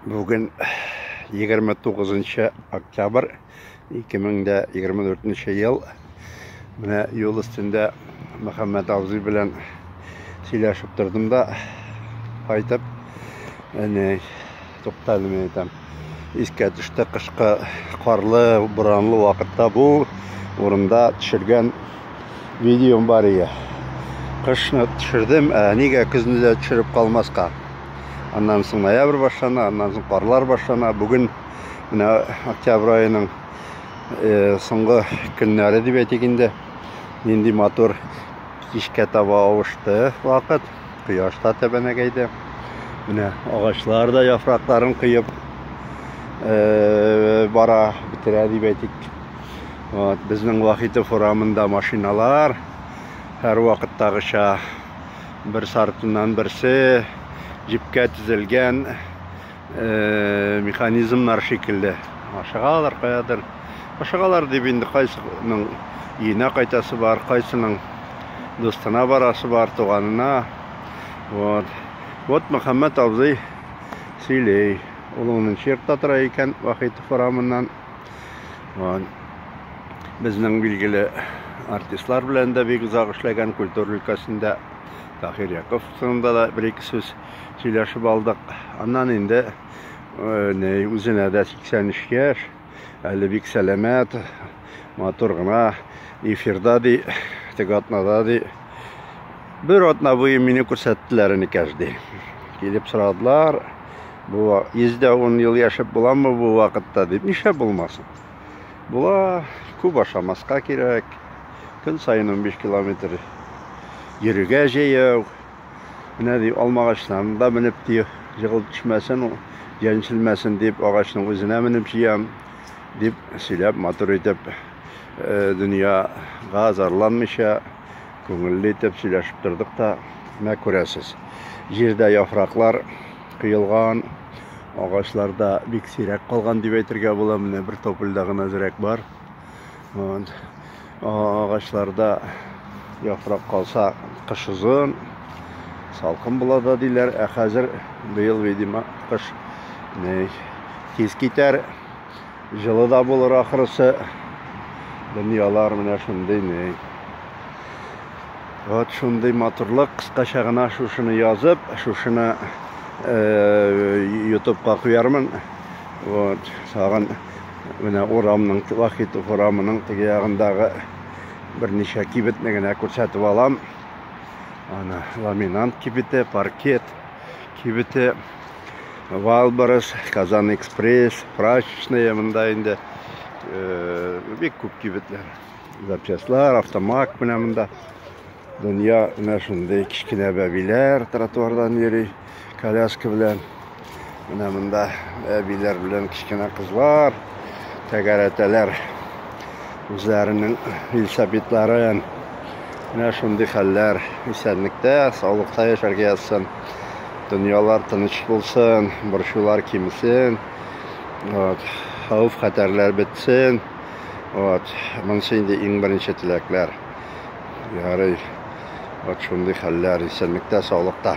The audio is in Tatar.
Бүген 29 октябрь 2024 ел. Менә юл өстендә Мөхәммәт абзый белән сөйләшеп тордым да кайтып әне тукталды мен әйтәм. Искә төште кышкы карлы, буранлы вакытта бу урында төшергән видеом бар иде. Кышны төшердем, ә нигә көзне дә төшереп калмаска? Аннан соң ноябрь башлана, аннан соң карлар башлана. Бүген менә октябрь аеның э, соңгы көннәре дип әйтик инде. Нинди матур кичкә таба авышты вакыт. Кояш та тәбәнәгәйде. Менә агачлар да яфракларын коеп э, бара, бетерә дип әйтик. Вот, безнең Вахитов урамында машиналар һәрвакыттагыча бер сартыннан берсе җипкә тезелгән э, механизмнар шикелле. Ашыгалар каядыр. Ашыгалар дип инде кайсының өенә кайтасы бар, кайсының дустына барасы бар, туганына. Вот. Вот Мөхәммәт абзый сөйлей. Ул унынчы йортта тора икән, Вахитов урамыннан. Ван безнең билгеле артистлар белән дә бик озак эшләгән культура өлкәсендә Тахир Яков турында да бер ике сүз сөйләшеп алдык. Аннан инде э, не үзенә дә 83 яшь, әле бик сәламәт, матур гына эфирда ди, теге атнада ди. Бер атна буе мине күрсәттеләр инде каждый. Килеп сорадылар. Бу 110 ел яшәп буламы бу вакытта дип, нишләп булмасын? Була, күп ашамаска кирәк. Көн саен 15 километр йөрергә җәяү. Менә ди алмагачларны да менеп ди, җыгыл төшмәсен, җәнчелмәсен дип агачның үзенә менеп җыям, дип сөйләп матур итеп э, дөньяга зарланмыйча күңелле итеп сөйләшеп тордык та, менә күрәсез, җирдә яфраклар кыелган, агачларда бик сирәк калган дип әйтергә була. Менә бер топольдә гына зрәк бар. Вот. Агачларда яфрак калса кыш озын, салкын була да диләр. Ә хәзер быел, видимо, кыш тиз китәр. Җылы да булыр ахрысы. Дөньялар менә шундый ни. Вот шундый матурлык кыскача гына шушыны язып, шушыны ютубка куярмын. Вот, тагын менә урамның, Вахитов урамының теге ягындагы берничә кибетне генә күрсәтеп алам. Ана ламинант кибете, паркет кибете. Валбарыс, Казан Экспресс, Прачечная, монда инде э, бик күп кибетләр. Запчастлар, автомак менә монда. Дөнья менә шундый кечкенә бәбиләр тротуардан йөри, коляска белән. Менә монда әбиләр белән кечкенә кызлар тәгәрәтәләр үзләренең велосипедларын. Менә шундый хәлләр исәнлектә, саулыкта яшәргә язсын. Дөньялар тыныч булсын, борчулар кимсен, вот, хәвеф хәтәрләр бетсен. Вот, монысы инде иң беренче теләкләр. Ярый, вот шундый хәлләр исәнлектә, саулыкта.